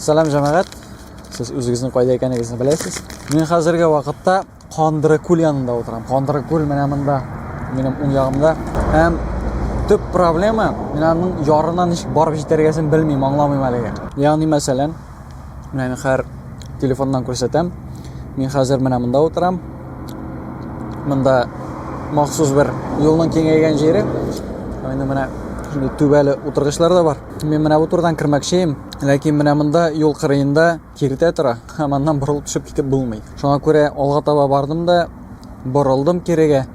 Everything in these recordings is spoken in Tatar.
Сәлам җәмәгать. Сез үзегезнең кайда икәнегезне беләсез. Мин хәзерге вакытта Кандыры күл янында утырам. Кандыры күл менә монда, минем уң ягымда. Һәм төп проблема, мин аның ярына ничек барып җитәргәсен белмим, аңламыйм әлегә. Ягъни, мәсәлән, менә мин хәзер телефоннан күрсәтәм. Мин хәзер менә монда утырам. Монда махсус бер юлның киңәйгән җире. Менә шундый түбәле утыргычлар да бар. Мин менә бу турдан кермәкчеем, ләкин менә монда юл кырыенда киртә тора, һәм аннан борылып төшеп китеп булмый. Шуңа күрә алга таба бардым да борылдым кирегә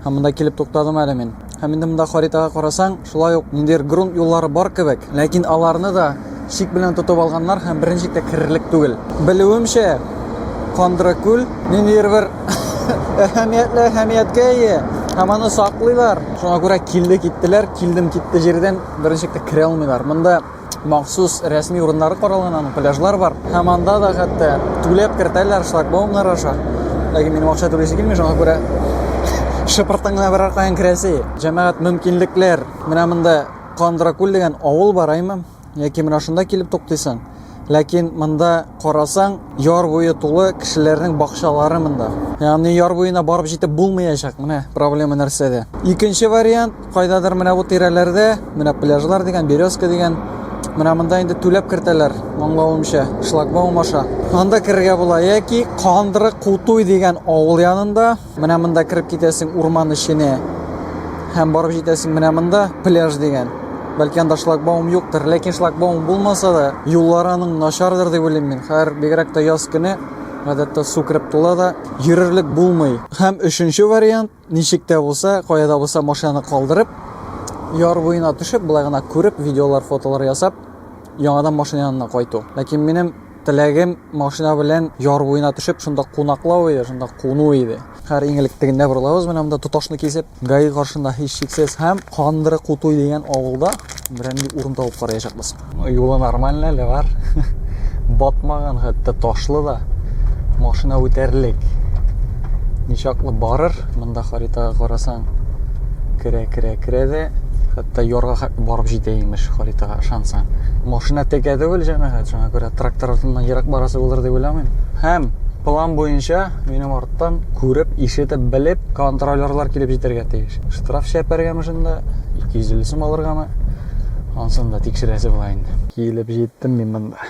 һәм монда килеп туктадым әле мин. Һәм инде монда харитага карасаң, шулай ук ниндидер грунт юллары бар кебек, ләкин аларны да шик белән тотып алганнар һәм берничек тә керерлек түгел. Белүемчә, Кандракүл ниндидер бер әһәмиятле әһәмияткә ия һәм аны саклыйлар. Шуңа күрә килде киттеләр, килдем китте җирдән беренчелеккә керә алмыйлар. Монда махсус рәсми урыннары каралган, аның пляжлар бар. Һәм анда да хәтта түләп кертәләр шлагбаумнар аша. Ләкин минем акча түлисе килми, шуңа күрә шыпыртың гына берәр каян керәсе. Җәмәгать мөмкинлекләр. Менә монда Кандракүл дигән авыл бар, әйме? Яки менә шунда килеп туктыйсың. Ләкин монда карасаң, яр буе тулы кешеләрнең бакчалары монда. Ягъни яр буена барып җитеп булмаячак. Менә проблема нәрсәдә. Икенче вариант, кайдадыр менә бу тирәләрдә, менә пляжлар дигән, березка дигән, менә монда инде түләп кертәләр, моңлавымча, шлагбаум аша. Анда керергә була яки Кандыры Кутуй дигән авыл янында, Менә монда кереп китәсең урман эченә. Һәм барып җитәсең менә монда пляж дигән. Бәлки анда шлагбаум юктыр, ләкин шлагбаум булмаса да, юллар аның начардыр дип уйлыйм мин. Хәер, бигрәк тә яз көне гадәттә су кереп тула да, йөрерлек булмый. Һәм өченче вариант, ничек тә булса, кая да булса машинаны калдырып, яр буена төшеп, болай гына күреп, видеолар, фотолар ясап, яңадан машина янына кайту. Ләкин минем Теләгем машина белән яр буена төшеп, шунда кунаклау иде, шунда куну иде. Хәр иң элек тегендә борылабыз, менә монда тоташны кисеп, гаи каршында һич шиксез һәм Кандыры Кутуй дигән авылда берәнди урын табып караячакбыз. Юлы нормальный әле бар. Батмаган хәтта ташлы да. Машина үтәрлек. Ничаклы барыр, монда харитага карасаң, Керә, керә, керә дә, хәтта ярга хәтле барып җитә имеш харитага ышансаң. Машина текә түгел җәмәгать, шуңа күрә трактор артыннан ерак барасы булыр дип уйламыйм. Һәм план буенча минем арттан күреп, ишетеп, белеп контролерлар килеп җитәргә тиеш. Штраф чәпәргәме шунда, 250 сум алыргамы? Ансын да тикшерәсе була инде. Килеп җиттем мин монда.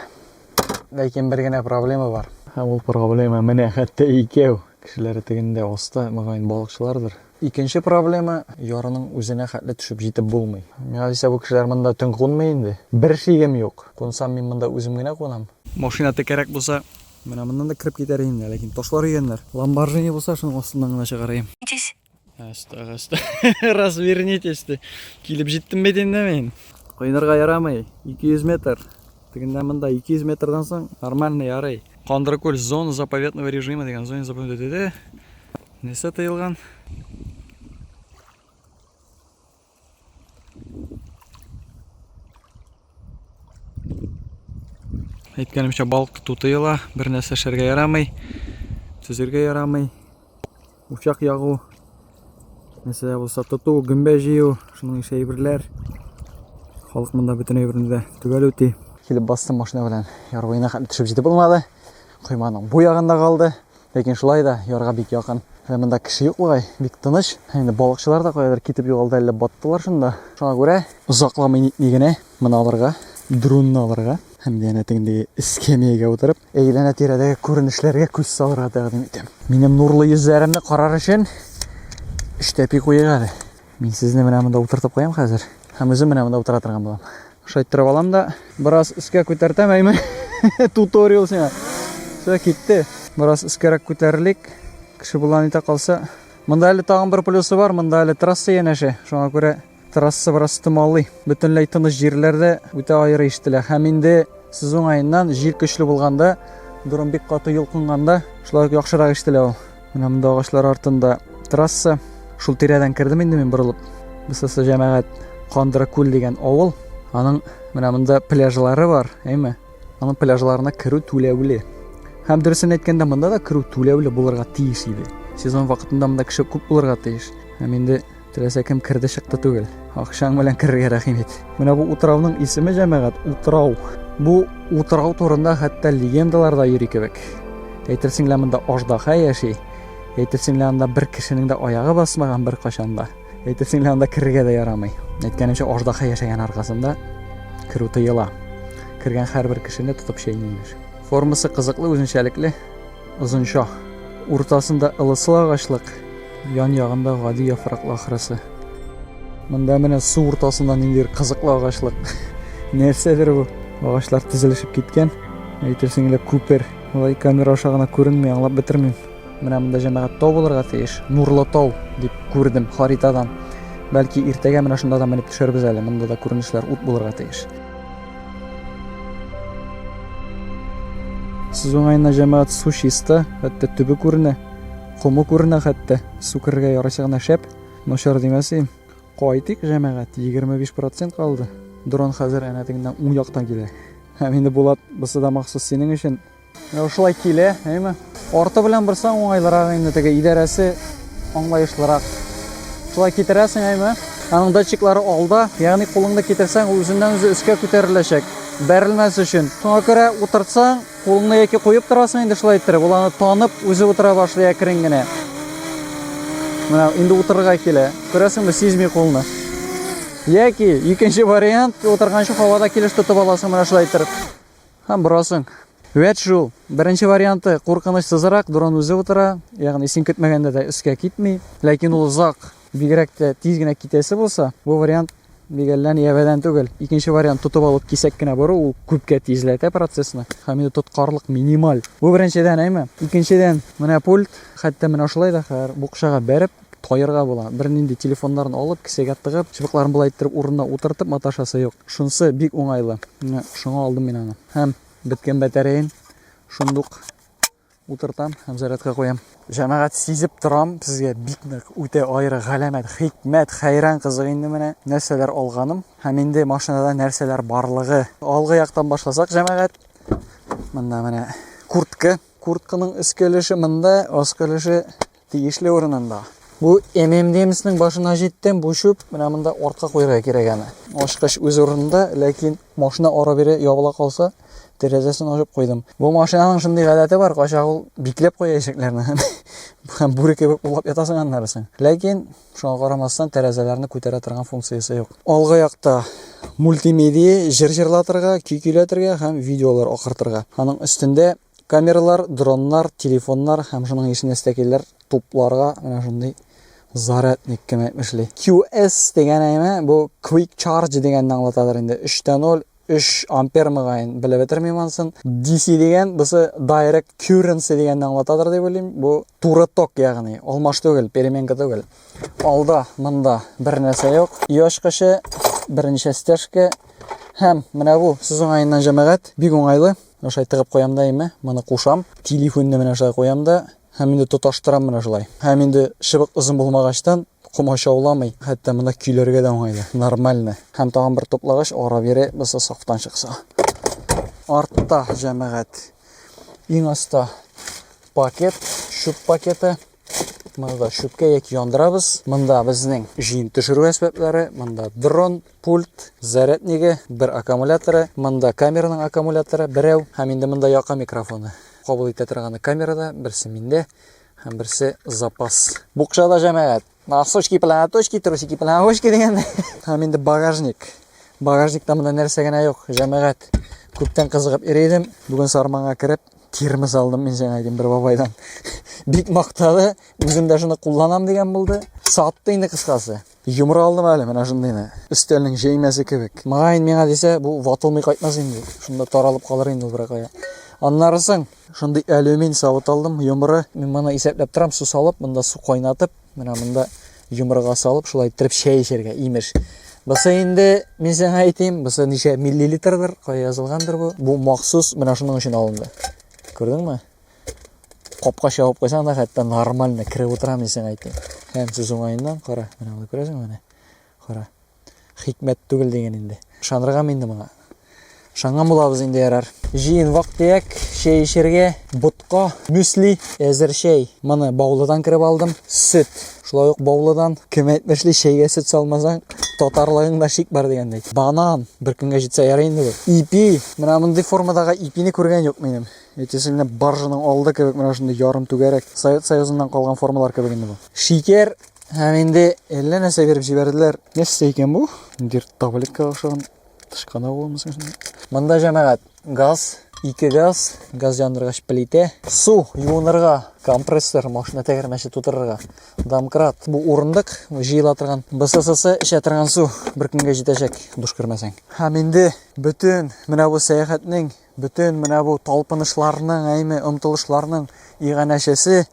Ләкин бер генә проблема бар. Һәм ул проблема менә хәтта икәү. Кешеләре тегендә оста, мөгаен балыкчылардыр. Икенче проблема, ярының үзенә хәтле төшеп җитеп булмый. Миңа дисә, бу кешеләр монда төн кунмый инде. Бер шигем юк, кунсам мин монда үзем генә кунам. Машина текәрәк булса, менә моннан да кереп китәр идем дә, ләкин ташлар өяннәр. Ламборжини булса, шуның астыннан гына чыгарыйм. Ачтык, ачтык. Развернитесь, ди. Килеп җиттем бит инде мин. Коенырга ярамый, 200 метр. Тегендә монда 200 метрдан соң нормально ярый. Кандыркүл, зона заповедного режима дигән, зона заповедного. Нәрсә тыелган? Әйткәнемчә балык тоту тыела, бер нәрсә эшләргә ярамый, төзергә ярамый. Учак ягу, нәрсә булса тоту, гөмбә җыю, шуның ише әйберләр. Халык монда бөтен әйберне дә төгәл үти. Килеп бастым машина белән. Яр буена хәтле төшеп җитеп булмады. Койманың бу ягында калды. Ләкин шулай да ярга бик якын. Ә монда кеше юк бугай, бик тыныч. Инде балыкчылар да каядыр китеп югалды, әллә баттылар шунда. Шуңа күрә озакламый нитми генә моны алырга, дронны алырга һәм янә тегендәге эскәмиягә утырып, әйләнә тирәдәге күренешләргә күз салырга тәкъдим итәм. Минем нурлы йөзләремне карар өчен эштәпи куйыйк әле. Мин сезне менә монда утыртып куям хәзер. Һәм үзем менә монда утыра торган булам. Шайттырып алам да, бераз өскә күтәртәм, әйме. Туториал сиңа. Все китте. Бераз өскәрәк күтәрелик. Кеше булган итә калса. Монда әле тагын бер плюсы бар, монда әле трасса янәшә. Шуңа күрә трасса бераз томалый. Бөтенләй тыныч җирләрдә үтә аеры ишетелә. Һәм инде сез уңаеннан җил көчле булганда, дөрем бик каты йолкынганда, шулай яхшырак ишетелә ул. Менә монда агачлар артында трасса. Шул тирәдән кердем инде мин борылып. Бусасы җәмәгать Кандракүл дигән авыл. Аның менә монда пляжлары бар, әйме? Аның пляжларына керү түләүле. Һәм дөресен әйткәндә, монда да керү түләүле булырга тиеш иде. Сезон вакытында монда кеше күп булырга тиеш. Һәм инде Теләсә кем керде чыкты түгел. Акчаң белән керергә рәхим ит. Менә бу утрауның исеме җәмәгать утрау. Бу утрау турында хәтта легендалар да йөри кебек. Әйтерсең лә монда аждаһа яши. Әйтерсең лә анда бер кешенең дә аягы басмаган бер качанда. Әйтерсең лә анда керергә дә ярамый. Әйткәнемчә аждаһа яшәгән аркасында керү тыела. Кергән һәрбер кешене тотып чәйни имеш. Формасы кызыклы, үзенчәлекле. Озынча. Уртасында ылыслы агачлык, ян ягында гади яфраклы ахрысы. Монда менә су уртасында ниндидер кызыклы агачлык. Нәрсәдер бу? Агачлар тезелешеп киткән. Әйтерсең лә күпер. Алай камера аша гына күренми, аңлап бетермим. Менә монда җәмәгать тау булырга тиеш. Нурлы тау дип күрдем харитадан. Бәлки иртәгә менә шунда да менеп төшәрбез әле. Монда да күренешләр ут булырга тиеш. Сез уңайына җәмәгать су чиста, хәтта төбе күренә, кому күренә хәтта. Су керергә ярыйсы гына шәп, начар димәсем. Кайтыйк, җәмәгать, 25 процент калды. Дрон хәзер әнә тегеннән уң яктан килә. Һәм инде, Булат, бусы да махсус синең өчен. Менә шулай килә, әйме? Арты белән борсаң уңайлырак инде теге идарәсе аңлаешлырак. Шулай китерәсең, әйме? Аның датчиклары алда, ягъни кулыңны китерсәң, үзеннән үзе өскә күтәреләчәк. Бәрелмәс өчен. Шуңа күрә утыртсаң, кулыңны яки куеп торасың инде шулай иттереп, ул аны танып, үзе утыра башлый әкрен генә. Менә инде утырырга килә. Күрәсеңме, сизми кулны. Яки икенче вариант, утырганчы һавада килеш тотып аласың менә шулай иттереп. Һәм борасың. Вәт шул. Беренче варианты куркынычсызрак, дрон үзе утыра, ягъни син көтмәгәндә дә өскә китми. Ләкин ул озак, бигрәк тә тиз генә китәсе булса, бу вариант бик әллә ни әбәдән түгел. Икенче вариант тотып алып кисәк кенә бору, ул күпкә тизләтә процессны. Һәм инде тоткарлык минималь. Бу беренчедән, әйме? Икенчедән, менә пульт, хәтта менә шулай да хәзер букчага бәреп, Таерга була. Бернинди телефоннарын алып, кесәгә тыгып, чыбыкларын болай иттереп урынына утыртып маташасы юк. Шунысы бик уңайлы. Менә шуңа алдым мин аны. Һәм беткән батареян шундук утыртам һәм зарядка куям. Җәмәгать сизеп торам, сезгә бик нык үтә аеры галәмәт, хикмәт, хәйран кызык инде менә нәрсәләр алганым һәм инде машинада нәрсәләр барлыгы. Алгы яктан башласак, җәмәгать. Монда менә куртка, куртканың өскә өлеше монда, аскы өлеше Тиешле урынында. Бу ММДМСның башына җиттем, бу чүп менә монда артка куярга кирәк аны. Ачкыч үз урынында, ләкин машина ара бире ябыла калса, тәрәзәсен ачып куйдым. Бу машинаның шундый гадәте бар, качак ул бикләп куя ишекләрне. Һәм бүре кебек булып ятасың аннарысын. Ләкин шуңа карамастан тәрәзәләрне күтәрә торган функциясе юк. Алгы якта мультимедия, җыр җырлатырга, көй көйләтергә һәм видеолар акыртырга. Аның өстендә Камералар, дроннар, телефоннар һәм шуның ише нәстәкәйләр тупларга менә шундый зарядник кеме эшли. QS дигән әйме бу Quick Charge дигәнне аңлатадыр инде. 3.0 3 ампер мөгаен белеп бетермим ансын. DC дигән бусы Direct Currency дигәнне аңлатадыр дип уйлыйм. Бу туры ток ягъни, алмаш түгел, переменка түгел. Алда монда бер нәрсә юк. Ю ачкычы, берничә стяжка һәм менә бу сүз уңаеннан җәмәгать бик уңайлы. Менә шулай тыгып куям да инде, моны кушам. Телефонны менә шулай куям да, һәм инде тоташтырам менә шулай. Һәм инде чыбык озын булмагачтан, комачауламый, хәтта монда көйләргә дә уңайлы, нормально. Һәм тагын бер туплагач, ара бире булса сафтан чыкса. Артта, җәмәгать, иң аста пакет, чүп пакеты. Монда шүпкә яки яндырабыз. Монда безнең җыен төшерү әсбаплары, монда дрон, пульт, заряднигы, бер аккумуляторы, монда камераның аккумуляторы берәү, һәм инде монда яка микрофоны. Кабул итә торганы камерада, берсе миндә һәм берсе запас. Букчада җәмәгать. Носочки, платочки, трусики, плавочки дигәндә. Һәм инде багажник. Багажникта монда нәрсә генә юк, җәмәгать. Күптән кызыгып йөри идем. Бүген сарманга кереп, термос алдым мен жаңа әйтем бер бабайдан бик мактады үзем дә шуны кулланам дигән булды сатты инде кыскасы йомра алдым әле менә шундыйны өстәлнең җәймәсе кебек мөгаен миңа дисә бу ватылмый кайтмас инде шунда таралып калыр инде ул беркая аннары соң шундый алюмин савыт алдым йомра мин моны исәпләп торам су салып монда су кайнатып Менә монда йомырга салып, шулай иттереп чәй эчәргә, имеш. Бусы инде, мин сиңа әйтим, бусы ничә миллилитрдыр, кая язылгандыр бу. Бу махсус менә шуның өчен алынды. Күрдеңме? Капка чабып куйсаң да, хәтта нормально кереп утырам, мин сиңа әйтим. Һәм сүз уңаеннан, кара, менә аны күрәсеңме менә? Кара. Хикмәт түгел дигән инде. Ышаныргамы инде моңа? Шаңган булабыз инде ярар. Җыен вак төяк, чәй эчәргә, ботка, мюсли, әзер чәй. Моны Баулыдан кереп алдым. Сөт. Шулай ук Баулыдан. Кем әйтмешли, чәйгә сөт салмасаң, татарлыгыңда шик бар дигәндәй. Банан. Бер көнгә җитсә ярый инде бу. Ипи. Менә мондый формадагы ипине күргән юк минем. Әйтәсе генә баржаның алды кебек, менә шундый ярым түгәрәк. Совет Союзыннан калган формалар кебек инде бу. Шикәр. Һәм инде әллә нәрсә биреп җибәрделәр. Нәрсә икән бу? Дир таблетка охшаган тышкана булмасын. Монда җәмәгать газ, ике газ, газ яндыргач плитә, су юынырга, компрессор, машина тәгәрмәче тутырырга, домкрат, бу урындык, җыела торган, БССС эчә торган су бер көнгә җитәчәк, душ кермәсәң. Һәм инде бөтен менә бу сәяхәтнең, бөтен менә бу талпынышларның, әйме, омтылышларның иганәчесе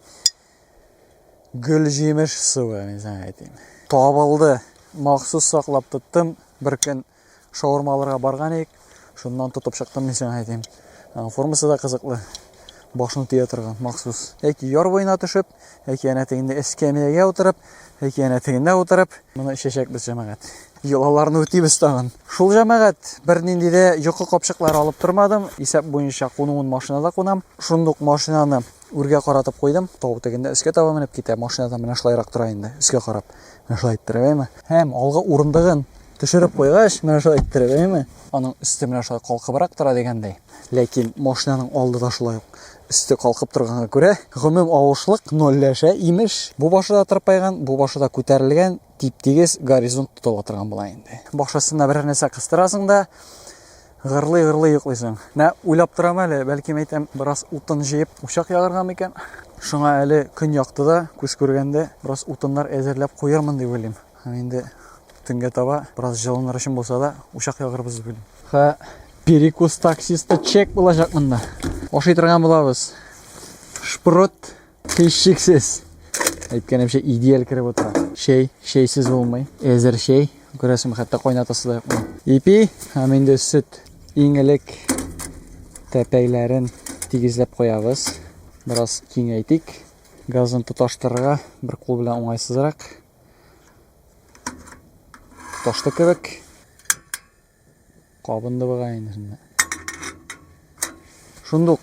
гөл җимеш суы әйтим табылды махсус саклап тоттым бер көн шаурма алырга барган идек шуннан тотып чыктым мин сиңа әйтим формасы да кызыклы башын тия торган махсус яки яр буена төшеп яки әнә тегендә эскәмиягә утырып яки әнә тегендә утырып моны эчәчәкбез җәмәгать йолаларны үтибез тагын шул җәмәгать бернинди дә йокы капчыклары алып тормадым исәп буенча кунуын машинада кунам шундук машинаны үргә каратып куйдым, тау тегендә өскә таба менеп китә, машинадан менә шулайрак тора инде, өскә карап. Менә шулай иттереп, әйме? Һәм алгы урындыгын төшереп куйгач, менә шулай иттереп, әйме? Аның өсте менә шулай калкыбрак тора дигәндәй. Ләкин машинаның алды да шулай ук өсте калкып торганга күрә, гомум авышлык нольләшә, имеш. Бу башы да тырпайган, бу башы да күтәрелгән, тип-тигез горизонт тотыла торган була инде. Башысына берәр нәрсә кыстырасың да, Гырлый-гырлый йоклыйсың. Менә уйлап торам әле, бәлки әйтәм, бераз утын җыеп учак ягарга микән? Шуңа әле көн якты да, күз күргәндә, бераз утыннар әзерләп куярмын дип уйлыйм. Һәм инде төнгә таба бераз җылыныр өчен булса да, учак ягырбыз дип уйлыйм. Ха, перекус таксисты чек булачак монда. Ашый торган булабыз. Шпрот Һичшиксез. Әйткәнемчә, идеаль кереп утыра. Шәй, шәйсез булмый. Әзер шәй. Күрәсең, хәтта кайнатасы да юкмы. Ипи һәм инде сөт. Иң элек тәпәйләрен тигезләп куябыз. Бераз киңәйтик. Газын тоташтырырга бер кул белән уңайсызрак. Тоташты кебек. Кабынды бугай инде шунда. Шундук.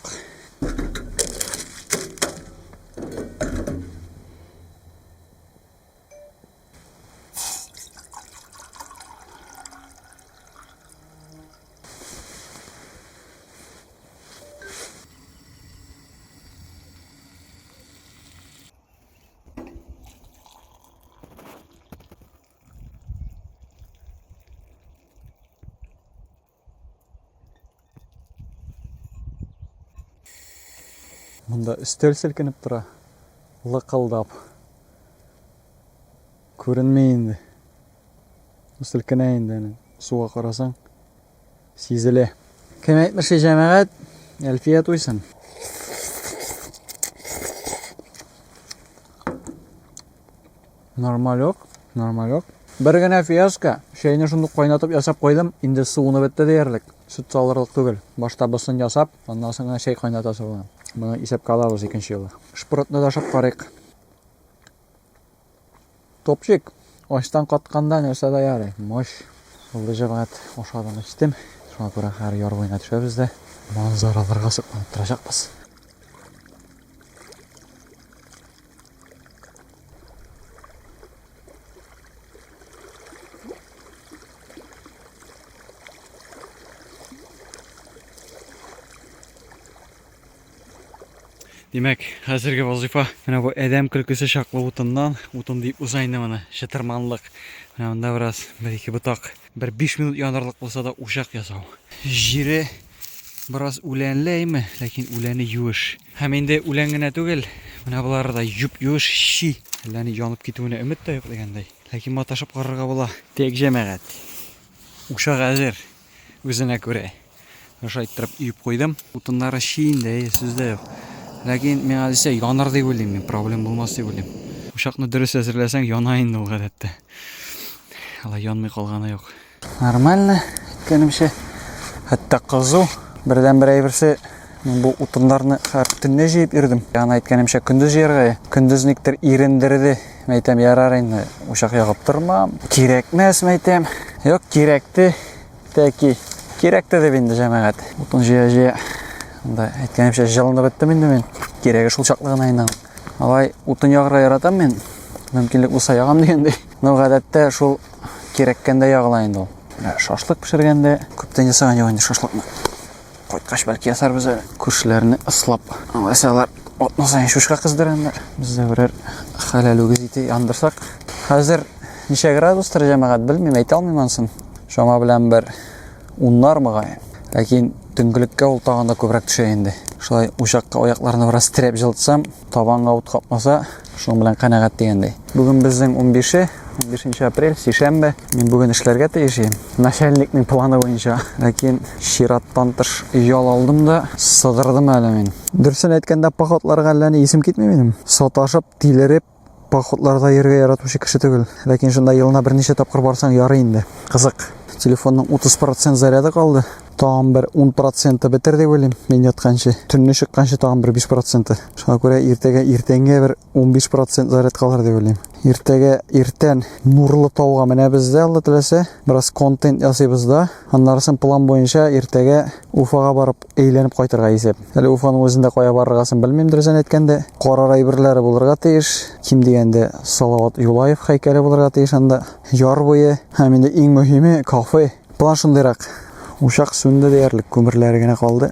Монда өстәл селкенеп тора. Лыкылдап. Күренмей инде. Селкенә инде. Суга карасаң, Сизелә. Кем әйтмешли, җәмәгать, Әлфия туйсын. Нормалек, нормалек. Бер генә фиаско, чәйне шундук кайнатып ясап куйдым, инде суыны бетте диярлек. Сөт салырлык түгел. Башта босын ясап, аннан соң гына чәй кайнатасы була. Моны исәпкә алабыз икенче юлы. Шпротны да ашап карыйк. Топчик, ачтан катканда нәрсә дә ярый. Мош, булды җәмәгать, ашадым, эчтем. Шуңа күрә хәзер яр буена төшәбез дә манзараларга сокланып торачакбыз. Димәк, хәзерге вазыйфа менә бу әдәм көлкесе чаклы утыннан, утын дип уза инде моны, чытырманлык. Менә монда бераз бер-ике ботак, бер 5 минут янырлык булса да учак ясау. Җире бераз үләнле әйме, ләкин үләне юеш. Һәм инде үлән генә түгел, менә болары да юп-юеш чи, әллә ни янып китүенә өмет тә юк дигәндәй. Ләкин маташып карарга була. Тек җәмәгать. Учак әзер, үзенә күрә. Аша иттереп иеп куйдым. Утыннары чи инде, әйе, сүз дә юк. Ләкин миңа дисә янар дип уйлыйм мин, проблем булмас дип уйлыйм. Учакны дөрес әзерләсәң, яна инде ул гадәттә. Алай янмый калганы юк. Нормально, әйткәнемчә. Хәтта кызу. Бердән-бер әйберсе, мин бу утыннарны хәр төнне җыеп йөрдем. Яна әйткәнемчә, көндез җыярга. Көндез никтер ирендерде. Мәйтәм, ярар инде, учак ягып тормам. Кирәкмәс, мәйтәм. Юк, кирәкте. Тәки. Кирәк тә дип инде җәмәгать. Утын җыя-җыя. Анда әйткәнемчә җылынып беттем инде мин. Кирәге шул чаклы гына инде. Алай утын ягырга яратам мин. Мөмкинлек булса ягам дигәндәй. Но гадәттә шул кирәккәндә ягыла инде ул. Шашлык пешергәндә күптән ясаган юк инде шашлыкны. Кайткач бәлки ясарбыз әле. Күршеләрне ыслап, алайса алар атна саен шушка кыздырганнар. Без дә берәр хәләл үгез ите яндырсак. Хәзер ничә градустыр җәмәгать белмим, әйтә алмыйм ансын. Шама белән бер уннар мөгаен. Ләкин төнгелеккә ул тагын да күбрәк төшә инде. Шулай учакка аякларны бераз терәп җылытсам, табанга ут капмаса, Шуның белән канәгать дигәндәй. Бүген безнең 15 15 апрель, сишәмбе. Мин бүген эшләргә тиеш идем. Начальникның планы буенча. Ләкин чираттан тыш ял алдым да сыдырдым әле мин. Дөресен әйткәндә, походларга әллә ни исем китми минем. Саташып, тилереп, походларда йөрергә яратучы кеше түгел. Ләкин шунда елына берничә тапкыр барсаң ярый инде. Кызык. Телефонның 30% заряды калды. Тагын бер 10 проценты бетер дип уйлыйм, мин ятканчы. Төнне чыкканчы тагын бер 5 проценты. Шуңа күрә иртәгә иртәнгә бер 15 процент зарядкалар дип уйлыйм. Иртәгә иртән Нурлы тауга менәбез дә, Алла теләсә, бераз контент ясыйбыз да. Аннарысын план буенча иртәгә Уфага барып әйләнеп кайтырга исәп. Әле Уфаның үзендә кая барыргасын белмим, дөресен әйткәндә. Карар әйберләре булырга тиеш. Ким дигәндә Салават Юлаев һәйкәле булырга тиеш анда. Яр буе һәм инде иң мөһиме кафе. План шундыйрак. Учак сүнде диярлек, күмерләре генә калды.